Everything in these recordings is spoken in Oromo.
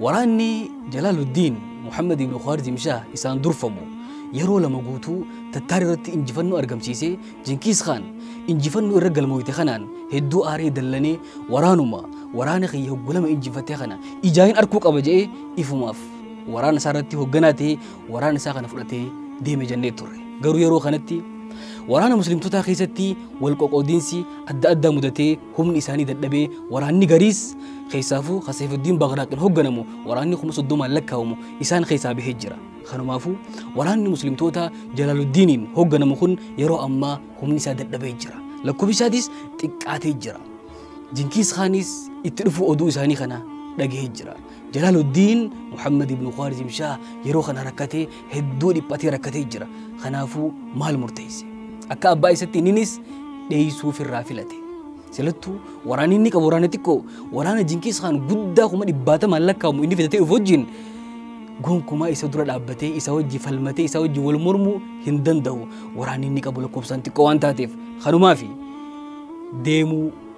Waraanni Jalaaluddiin Muhammad ibn Khwarizim Shah isaan durfamu yeroo lama guutuu Tattaar irratti injifannoo argamsiisee Jinkiis Khaan injifannoo irra galmooyte kanaan hedduu aaree dallanee waraanuma waraana kiyya hoggu lama injifatte kana ijaain arkuu qaba je'ee ifumaaf waraana isaa irratti hogganaa ta'ee waraana isaa kana fudhatee deeme jennee turre garuu yeroo kanatti waraana muslimtotaa keessatti wal qoqoodinsi adda addaa mudatee Humni isaanii dadhabee waraanni gariis keessaafuu ka Seefuddiin Bagraaqiin hogganamu waraanni kuma soddomaan lakkaawamu isaan keessaa bahee jira. Kanumaafuu waraanni Muslimtootaa Jalaaluddiiniin hogganamu kun yeroo ammaa humni isaa dadhabee jira. Lakkofsi isaatis xiqqaatee jira. Jinkiis Khaaniis itti dhufuu oduu isaanii kana dhagahee jira. Jalaaluddiin Muhammad ibn Khwaarizim Shaah yeroo kana rakkatee hedduu dhiphatee rakkatee jira. Kanaafuu maal murteesse? Akka abbaa isatti inninis dheeysuu ofirraa filate. Silattuu waraanni inni qabu waraana xiqqoo waraana Jinkiis Kaan guddaa kuma dhibbaatamaan lakkaa'amu inni fidatee dhufu wajjin gonkumaa isa dura dhaabbatee isa wajji falmatee isa wajji wal mormuu hin danda'u. Waraanni inni qabu lakkoofsaan xiqqoo waan taateef kanumaafi deemuu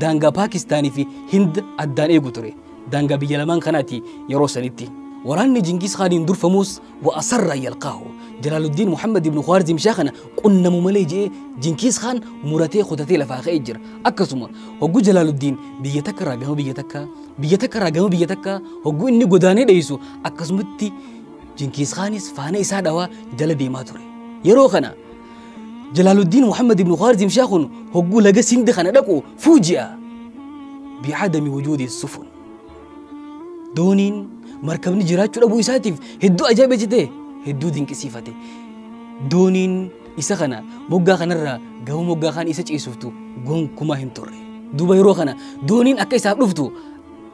daangaa Paakistaanii fi Hind addaan eegu ture. Daangaa biyya lamaan kanaati yeroo sanitti. Waraanni Jingiis Khaaniin durfamuus wa asarraa yalqaahu. Jalaaluddiin Muhammad ibn Khwaarzim Shaa kana qunnamu malee je'ee Jinkiis Khaan muratee kutatee lafaa ka'ee jira. Akkasuma hoggu Jalaaluddiin biyya takka irraa gama biyya takkaa biyya takka irraa gama biyya takkaa hoggu inni godaanee dheeysu akkasumatti Jinkiis Khaanis faana isaa dhawaa jala deemaa ture. Yeroo kana Jalaaluddiin Muhammad ibn Khwarizim Shaa kun hogguu laga Sindi kana dhaqu fuuji'a. Bi'adami wujuudi sufun. Dooniin markabni jiraachuu dhabuu isaatiif hedduu ajaa'iba jete hedduu dinqisiifate. Dooniin isa kana moggaa kanarraa gama moggaa kaan isa ceesiftu gonkumaa hin turre. Duuba yeroo kana dooniin akka isaaf dhuftu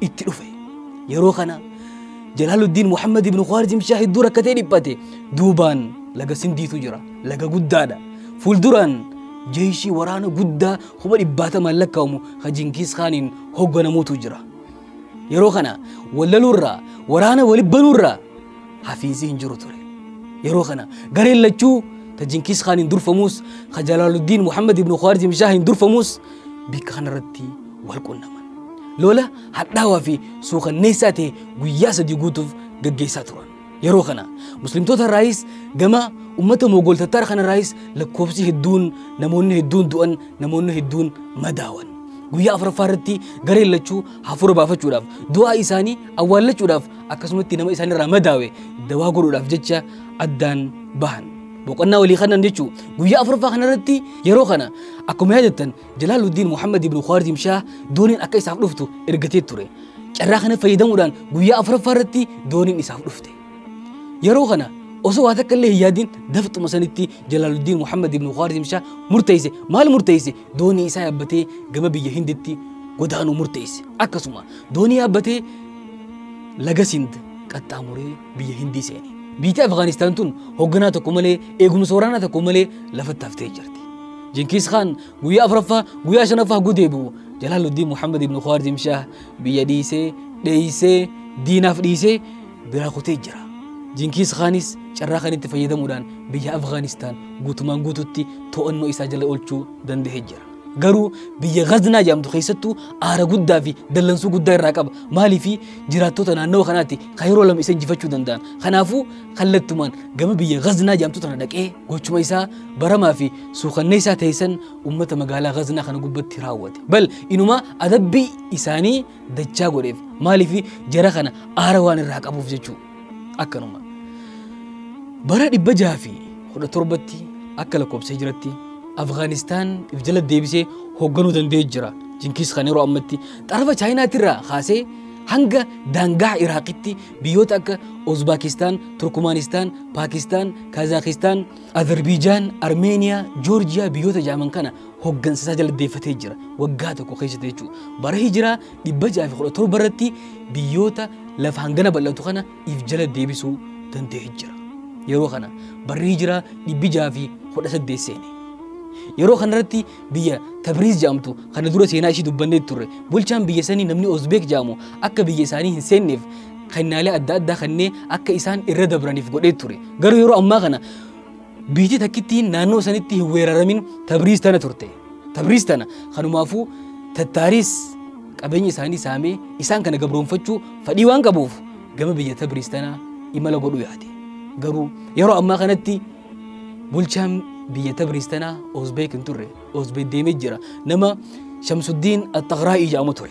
itti dhufe yeroo kana jalaaluddiin muhammad ibnu khaarijim shaa hedduu rakkatee dhiphate duubaan laga sindiitu jira laga guddaadha fuulduraan jeeshii waraana guddaa kuma dhibbaatamaan lakkaa'amu ka jinkiis kaaniin hoogganamuutu jira yeroo kana wallaluurraa waraana wali banuurraa hafiinsi hin jiru ture yeroo kana gareen lachuu ta jinkiis kaaniin durfamuus ka jalaaluddiin muhammad ibnu khaarijim shaahiin durfamuus bikka kanarratti wal qunnaman. Lola hadhaawaa fi suukanneessaa ta'e guyyaa sadii guutuuf gaggeessaa turan. Yeroo kana muslimtoota irraayis gama ummata Moogol Tattaar kana irraayis lakkoofsi hedduun namoonni hedduun du'an namoonni hedduun madaawan. Guyyaa afuraffaa irratti gareen lachuu hafuura baafachuudhaaf du'aa isaanii awwaallachuudhaaf akkasumatti nama isaanirraa madaawe dawaa godhuudhaaf jecha addaan bahan. boqonnaa walii kanan jechuu guyyaa afurfaa kana irratti yeroo kana akkuma yaadattan Jalaaluddin Muhammad ibn Khwarizm Shah dooniin akka isaaf dhuftu ergatee ture. Carraa kana fayyadamuudhaan guyyaa afuraffaa irratti dooniin isaaf dhufte. Yeroo kana osoo waa takka illee hin yaadin daftuma sanitti Jalaaluddin Muhammad ibn Khwarizm Shah murteesse maal murteesse doonii isaa yaabbatee gama biyya Hinditti godaanuu murteesse. Akkasuma doonii yaabbatee laga Sind qaxxaamuree biyya Hindii seene. Biyyi Afgaanistaan tun hoogganaa tokko malee eegumsa waraanaa tokko malee lafatti haftee jirti. Jinkiis Khaan guyyaa afuraffaa guyyaa shanaffaa hagguu deebi'u Jalaaluddiin Muhammad ibn Khwarizm Shah biyya dhiisee dheeysee diinaaf dhiisee biraa kutee jira. Jinkiis Khaanis carraa kanitti fayyadamuudhaan biyya Afgaanistaan guutumaan guututti to'annoo isaa jala oolchuu danda'ee jira. Garuu biyya Gaznaa jedhamtu keessattuu aara guddaa fi dallansuu guddaa irraa qaba. Maaliif jiraattota naannawa kanaatti kan yeroo lama isa injifachuu danda'an. Kanaafuu kallattumaan gama biyya Gaznaa jedhamtu tana dhaqee gochuma isaa baramaa fi suukanneessaa ta'e san uummata magaalaa Gaznaa kana gubbatti raawwate. Bal inumaa adabbii isaanii dachaa godheef. Maaliif jara kana aara waan irraa qabuuf jechuudha. akkanuma bara 617tti akka lakkoofsa hijiratti Afgaanistaan if jala deebisee hoogganuu danda'ee jira. Jinkiis kan yeroo ammatti xarafa Chaayinaatirraa kaasee hanga daangaa Iraaqitti biyyoota akka Uzbaakistaan, Turkumaanistaan, Paakistaan, Kaazaakistaan, Azerbiijaan, Armeeniyaa, Joorjiyaa biyyoota jaaman kana hooggansa isaa jala deeffatee jira. Waggaa tokko keessatti jechuudha. Bara hijiraa 617 irratti biyyoota lafa hangana bal'atu kana if jala deebisuu danda'ee jira. Yeroo kana barri hijiraa 618 seene. Yeroo kanarratti biyya Tabriiz jedhamtu kana dura seenaa ishii dubbannee turre bulchaan biyya sanii namni Ozbeek jedhamu akka biyya isaanii hin seenneef kennaalee adda addaa kannee akka isaan irra dabraniif godhee ture. Garuu yeroo ammaa kana Biitii takkittiin naannoo sanitti hin weeraramin Tabriiz tana turte. Tabriiz tana kanumaafuu Tattaariis qabeenya isaanii saamee isaan kana gabroonfachuu fadhii waan qabuuf gama biyya Tabriiz tana imala godhuu yaade. Garuu yeroo ammaa kanatti bulchaan biyya Tabriiz tana Oozbeek hin turre. Oozbeek deemee jira. Nama Shamsuddiin Axxaqraa'ii jedhamu ture.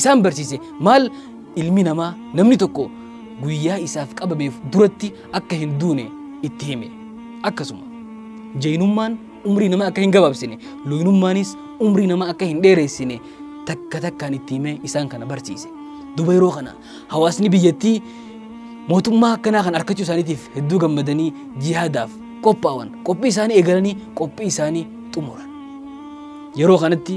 isaan barsiise maal ilmi namaa namni tokko guyyaa isaaf qabameef duratti akka hin duune itti hime akkasuma jeenummaan umrii nama akka hin gabaabsine looyinummaanis umrii nama akka hin dheereessine takka takkaan itti himee isaan kana barsiise duba yeroo kana hawaasni biyyattii mootummaa akkanaa kan arkachuu isaaniitiif hedduu gammadanii jihaadaaf qophaa'an qophii isaanii eegalanii qophii isaanii xumuran yeroo kanatti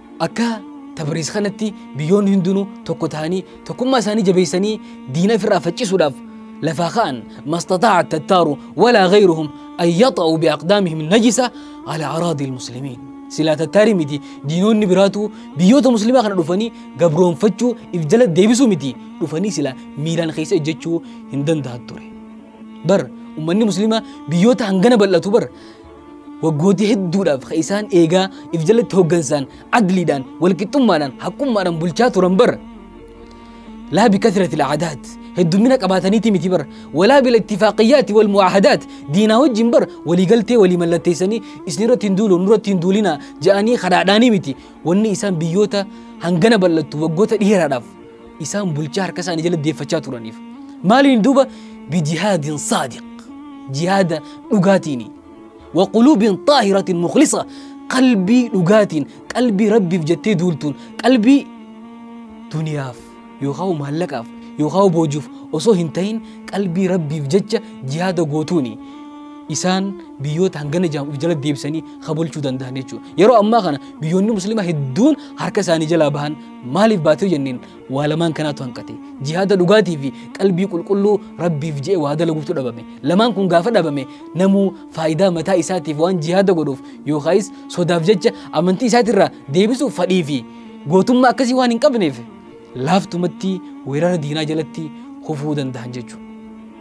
Akka Tabariis kanatti biyyoonni hundinuu tokko ta'anii tokkummaa isaanii jabeessanii diina ofirraa faccisuudhaaf lafaa ka'an mastataa tattaaru walaa gayruhum an yaxa'u biaqdaamihim najisa ala araadii ilmuslimiin. Silaa tattaarii miti diinoonni biraatu biyyoota muslimaa kana dhufanii gabroonfachuu if jala deebisuu miti dhufanii silaa miilaan keessa ejjechuu hin danda'an ture. Bar ummanni muslimaa biyyoota hangana bal'atu bar Waggooti hedduudhaaf ka isaan eegaa if jalatti hoggansaan adliidhaan walqixxummaadhaan haqqummaadhaan bulchaa turan bar laa bikasrati alcaadaat heddummina qabaataniiti miti bar walaa bilattifaaqiyyaati walmucaahadaat diinaa wajjin bar waliigaltee walii mallatteessanii isin irratti hin duulu nurratti hin duulinaa ja'anii kadhaadhaanii miti wanni isaan biyyoota hangana bal'attu waggoota dheeraadhaaf isaan bulchaa harka isaanii jala deeffachaa turaniif maaliin duuba bijihaadin saadiq jihaada dhugaatiini waquluubin xaahiratin muklisa qalbii dhugaatiin qalbii rabbiif jettee duultuun qalbii duniyaaf yookaan maallaqaaf yookaan boojuuf osoo hin ta'in qalbii rabbiif jecha jihaada gootuuni isaan biyyoota hangana jedhamu of jala deebisanii habulchuu danda'an jechuudha. Yeroo ammaa kana biyyoonni musliimaa hedduun harka isaanii jalaa bahan Maaliif baate yoo jenneen waa lamaan kanaatu hanqate. Jihaada dhugaatii fi qalbii qulqulluu Rabbiif je'e waa dalaguutu dhabame. Lamaan kun gaafa dhabame namuu faayidaa mataa isaatiif waan jihaada godhuuf yookaayis sodaaf jecha amantii isaatirraa deebisuuf fadhii fi gootummaa akkasii waan hin qabneef laaftumatti weerara diinaa jalatti kufuu danda'an jechuudha.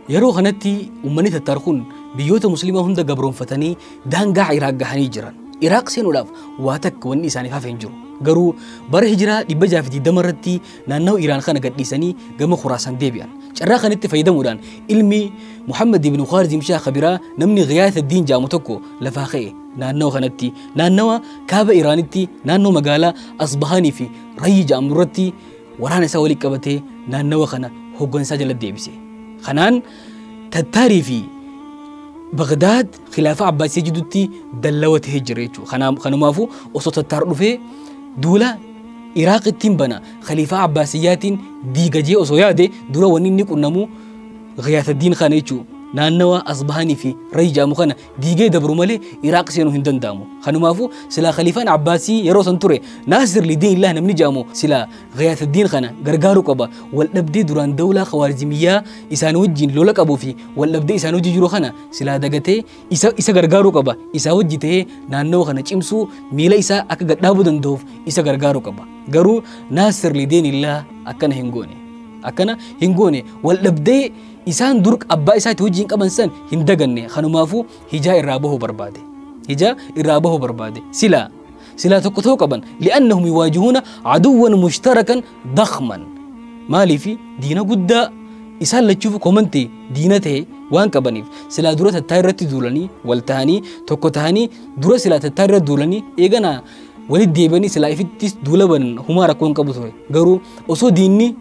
Yeroo kanatti uummanni Tattaar kun biyyoota Musliimaa hunda gabroonfatanii daangaa Iraaq gahanii jiran. Iraaq seenuudhaaf waa takka wanni isaaniif hafe hin jiru. Garuu bara hijiraa 620 irratti naannawa Iraan kana gadhiisanii gama Khuraasaan deebi'an. Carraa kanatti fayyadamuudhaan ilmi Muhammad ibn Khwarizim Shaah Kabiraa namni Ghiyaas Addiin jaamu tokko lafaa ka'e naannawa kanatti naannawa kaaba Iraanitti naannoo magaalaa Asbahaanii fi Rayyi jaamu irratti Waraana isaa walitti qabatee naannawa kana hooggansaa jala deebise. Kanaan Tattaarii fi Bagdaad khilaafaa Abbaasii jidduutti dallawa ta'ee jira jechuudha. Kanumaafuu osoo Tattaar dhufee duula Iraaq ittiin bana khaliifaa Abbaasiyyaatiin diigajee osoo yaade dura wanni inni qunnamu Ghiyaataddiin kana jechuudha. Naannawa Asbahaanii fi Rayi jaamu kana diigee dabru malee Iraaq seenuu hin danda'amu. Kanumaafuu silaa Khaliifaan Abbaasii yeroo san ture Naasir Lidiinillah namni jedhamu silaa Ghiyaasuddiin kana gargaaruu qaba. Waldhabdee duraan dawlaa Khawaarizimiyyaa isaan wajjin lola qabuu fi waldhabdee isaan hojii jiru kana silaa dagatee isa, isa gargaaruu qaba. Isaa wajji ta'ee naannawa kana cimsuu miila isaa akka gadhaabuu danda'uuf isa gargaaruu qaba. Garuu Naasir Lidiinillah akkana hin goone. Akkana hin goone waldhabdee Isaan dur abbaa isaati wajjin qaban san hin daganne kanumaafuu hijaa irraa bahuu barbaade. Hijaa irraa bahuu barbaade. Silaa silaa tokko ta'uu qaban li'annahum yuwaajihuuna aduwwan mushtarakan dakhman. Maaliif diina guddaa isaan lachuuf komante diina ta'e waan qabaniif silaa dura tattaa irratti duulanii wal tahanii tokko tahanii dura silaa tattaa irra duulanii eeganaa Walitti deebi'anii silaa ifittis duula banan humaa rakkoo hin qabu ture. Garuu osoo diinni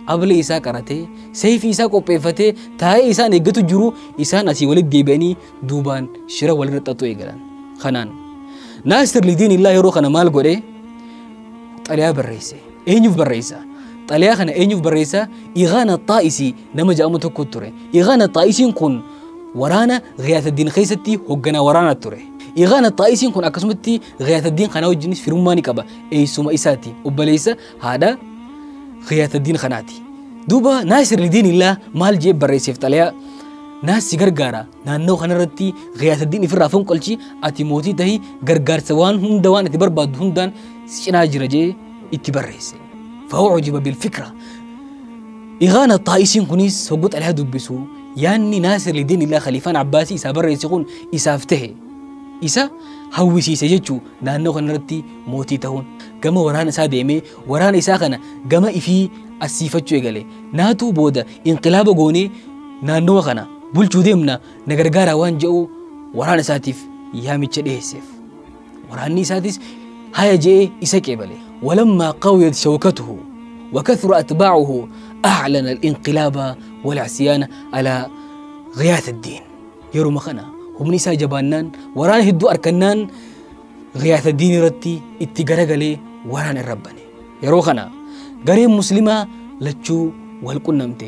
ablee isaa qaratee seeyfii isaa qopheeffatee taa'ee isaan eeggatu jiru isaan asii walitti deebi'anii duubaan shira walirra xaxuu eegalan. Kanaan Naasir Lidiin illaa yeroo kana maal godhe xaliyaa barreesse. Eenyuuf barreessa? Xaliyaa kana eenyuuf barreessa? Igaana Xaa'isii nama jedhamu tokko ture. Iqaan Axxaa'isiin kun waraana Ghiyaataddiin keessatti hoogganaa waraanaa ture. Iqaan Axxaa'isiin kun akkasumatti Ghiyaataddiin kana wajjinis firummaa ni qaba. Eessuma isaati. Obboleessa haadha Ghiyaataddiin kanaati. Duuba Naasir Lidiin illaa maal jee barreesseef xalayaa naas si gargaara naannoo kanarratti Ghiyaataddiin ifirraa fonqolchi ati mootii tahi gargaarsa waan hunda waan ati barbaaddu hundaan si cinaa jira jee itti barreesse. Fa'oo hojiba bilfikra Dhigaan Axxaa'isiin kunis hogguu xalayaa dubbisu yaadni Naasir Lidiinillah Khaliifaan Abbaasii isaa barreesse kun isaaf tahe. Isa hawwisiise jechuu naannoo kanarratti mootii tahuun gama waraana isaa deemee waraana isaa kana gama ifii assiifachuu eegale. Naatu booda inqilaaba goonee naannawa kana bulchuu deemna na gargaaraa waan jedhu waraana isaatiif yaamicha dhiheesseef. Waraanni isaatis haya je'ee isa qeebale. Walammaa qawiyat shawkatuhu wakathura atbaacuhu aclana al-inqilaaba walcsiyaana alaa ghiyaat addiin. Yeruma kana humni isaa jabaannaan waraana hedduu arkannaan ghiyaat addiin irratti itti garagalee waraana irra bane. Yeroo kana gareen muslimaa lachuu wal qunnamte.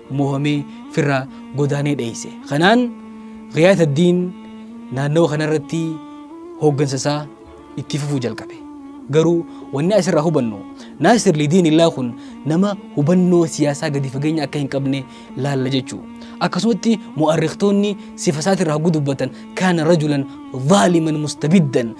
moohamee firraa godaanee dheeyse. Kanaan Ghiyaas ad-Diin naannawa kanarratti hooggansa isaa itti fufuu jalqabe. Garuu wanni asirraa hubannu Naasir Lidiinillaa kun nama hubannoo siyaasaa gadi fageenya akka hin qabne laalla jechuu. Akkasumatti mu'arrikhtoonni sifa isaatirraa hoggu dubbatan kaana rajulan zaaliman mustabiddan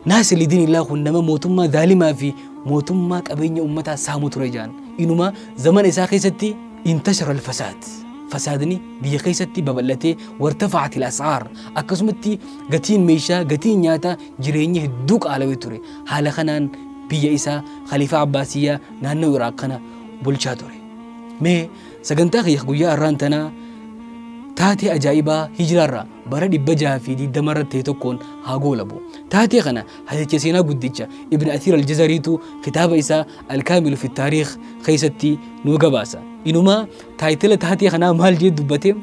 Naasilidiinillah kun nama mootummaa zaalimaa fi mootummaa qabeenya ummataa saamu ture jaan. Inuma zamana isaa keessatti intashara alfasaad. Fasaadni biyya keessatti babal'atee wartafa'atil as'aar akkasumatti gatiin meeshaa gatiin nyaata jireenyi hedduu qaalawee ture. Haala kanaan biyya isaa Khaliifaa Abbaasiyyaa naannoo Iraaq kana bulchaa ture. Mee Sagantaa kiyya guyyaa har'aan tanaa taatee ajaa'ibaa hijiraarraa bara 620 irratti ta'e tokkoon haa goolabu. Taatee kana hadicha seenaa guddicha Ibn Athiir al-Jazariitu kitaaba isaa Al-Kaamilu fi Taariikh keessatti nuu gabaasa. Inumaa taayitila taatee kanaa maal jee dubbate?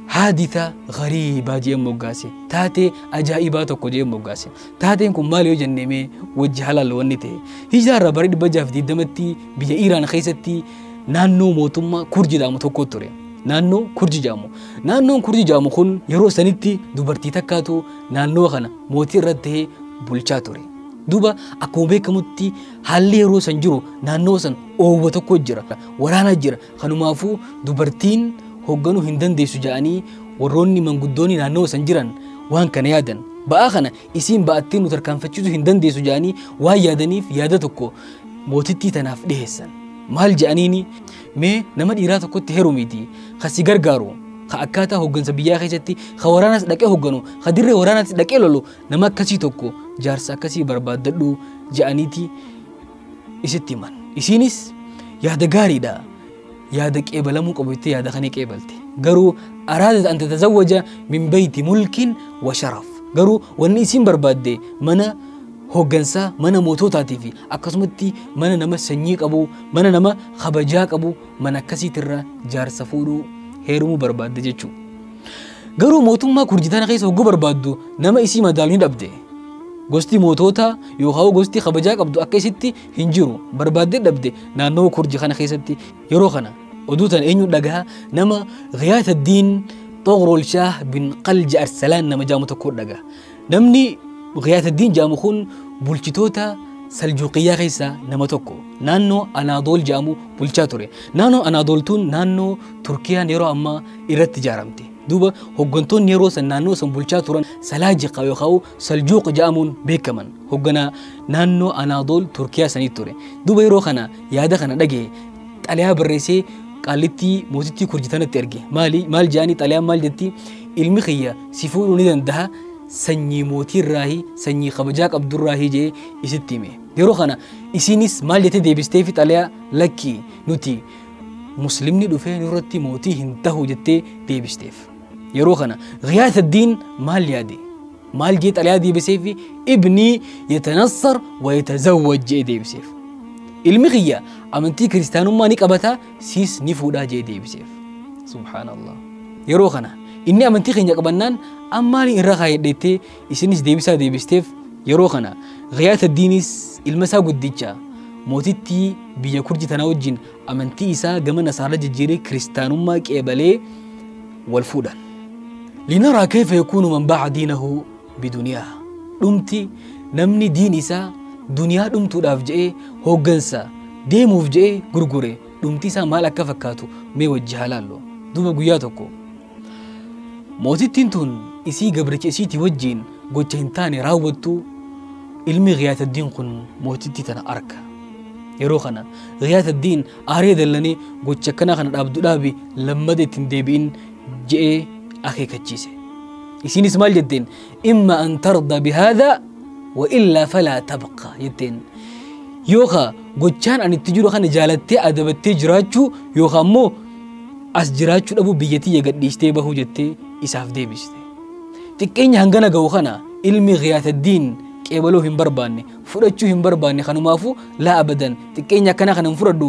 Haaditha gariibaa jee moggaase. Taatee ajaa'ibaa tokko jee moggaase. Taateen kun maal yoo jennee mee wajji halaallu wanni ta'e. Hijiraarraa bara 620tti biyya Iiraan keessatti naannoo mootummaa kurji jedhamu tokko ture. Naannoo kurji jedhamu. Naannoon kurji jedhamu kun yeroo sanitti dubartii takkaatu naannoo kana mootii irratti ta'ee bulchaa ture. Duuba akkuma beekamutti haalli yeroo san jiru naannoo san oowwa tokko jira. Waraana jira. Kanumaafuu dubartiin hoogganuu hin dandeessu jedhanii warroonni manguddoonni naannoo san jiran waan kana yaadan. Ba'aa kana isiin ba'attee nu tarkaanfachiisuu hin dandeessu jedhanii waan yaadaniif yaada tokko mootittii tanaaf dhiheessan. Maal jedhaniini mee nama dhiiraa tokkotti herumiiti kan si gargaaru ka akkaataa hooggansa biyyaa keessatti ka waraanas dhaqee hoogganu ka dirree waraanaatti dhaqee lolu nama akkasii tokko jaarsa akkasii barbaaddadhu jedhaniiti isitti himan. Isiinis yaada gaariidha yaada qeebalamuu qabu itti yaada kana qeebalte garuu araadat an tatazawwaja min beeyti mulkin wa sharaf garuu wanni isiin barbaadde mana hooggansaa mana mootootaatii fi akkasumatti mana nama sanyii qabu mana nama kabajaa qabu mana akkasiitirra jaarsa fuudhuu heerumuu barbaadde jechuudha. Garuu mootummaa kurjitaana keessa hogguu barbaaddu nama isii madaalu ni dhabde. Gosti mootoota yookaan gosti kabajaa qabdu akka isitti hin jiru barbaaddee dhabde naannawa kurji kana keessatti yeroo kana oduu tana eenyu dhagaha nama ghiyaata diin xoqrool shaah bin qalji arsalaan nama jaamu tokko dhagaha namni ghiyaata diin jaamu kun bulchitoota saljuuqiyyaa keessaa nama tokko naannoo anaadool jaamu bulchaa ture naannoo anaadooltuun naannoo turkiyaan yeroo ammaa irratti ijaaramte duuba hoggantoonni yeroo san naannoo san bulchaa turan salaajiqa yookaan saljuuqa jedhamuun beekaman hogganaa naannoo anaadool turkiyaa sanii ture duuba yeroo kana yaada kana dhaga'e xalayaa barreessee qaallittii mootittii kurjitanatti erge maali maal jedhanii xalayaan maal jetti ilmi kiyya si fuudhuu ni danda'a sanyii mootii irraahi sanyii kabajaa qabdurraahi jee isitti hime yeroo kana isiinis maal jettee deebisteefi xalayaa lakkii nuti muslimni dhufee nurratti mootii hin tahu jettee deebisteef. Yeroo kana Ghiyaas Addiin maal yaade? Maal jee xalayaa deebiseef ibnii yatanassar wa yatazawwaj jee deebiseef. Ilmi kiyya amantii kiristaanummaa ni qabata siis ni fuudhaa jee deebiseef. Subhaanallah. Yeroo kana inni amantii keenya qabannaan ammaali irra kaayadheettee Isinis deebisaa deebisteef yeroo kana Ghiyaas Addiinis ilma isaa guddicha mootittii biyya Kurji tanaa wajjin amantii isaa gama Nasaara jijjiiree kiristaanummaa qeebalee wal fuudhan. Linaraa keefa yakuunu man baaca diinahu biduniyaa. Dhumti namni diin isaa duniyaa dhumtuudhaaf je'ee hooggansa deemuuf je'ee gurgure dhumti isaa maal akka fakkaatu mee wajji haa laallu. Duuba guyyaa tokko Mootittiin tun isii gabricha isiitii wajjiin gocha hin taane raawwattu ilmi Giyaataddiin kun mootittii tana arka. Yeroo kana Giyaataddiin aaree dallanee gocha akkanaa kana dhaabdu dhaabi lammada ittiin deebi'in je'ee akeekachiise. Isiinis maal jetteen? imma an tarda bihaadha wa illaa falaa tabqa jetteen yookaa gochaan ani itti jiru kana jaalattee adabattee jiraachuu yookaa immoo as jiraachuu dhabuu biyyatiyya gadhiistee bahuu jettee isaaf deebiste xiqqeenya hangana ga'u kana ilmi giyaataddiin qeebaloo hin barbaanne fudhachuu hin barbaanne kanumaafuu laa abadan xiqqeenya akkanaa kana hin fudhadhu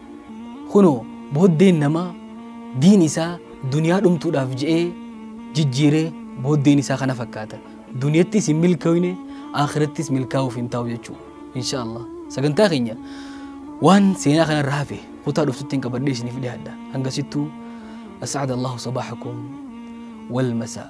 Kunoo, booddeen namaa diin isaa duniyaa dhumtuudhaaf je'ee jijjiire booddeen isaa kana fakkaata. Duniyattis hin milkooyne, aakhirattis milkaawuuf hin taa'u jechu'u. Inshaa Allaah. Sagantaa keenya waan seenaa kanarra hafe kutaa dhuftuttiin qabadhee isiniif dhihaadha. Hangasittuu, As'ada Allaahu sabaahakum wal masaa.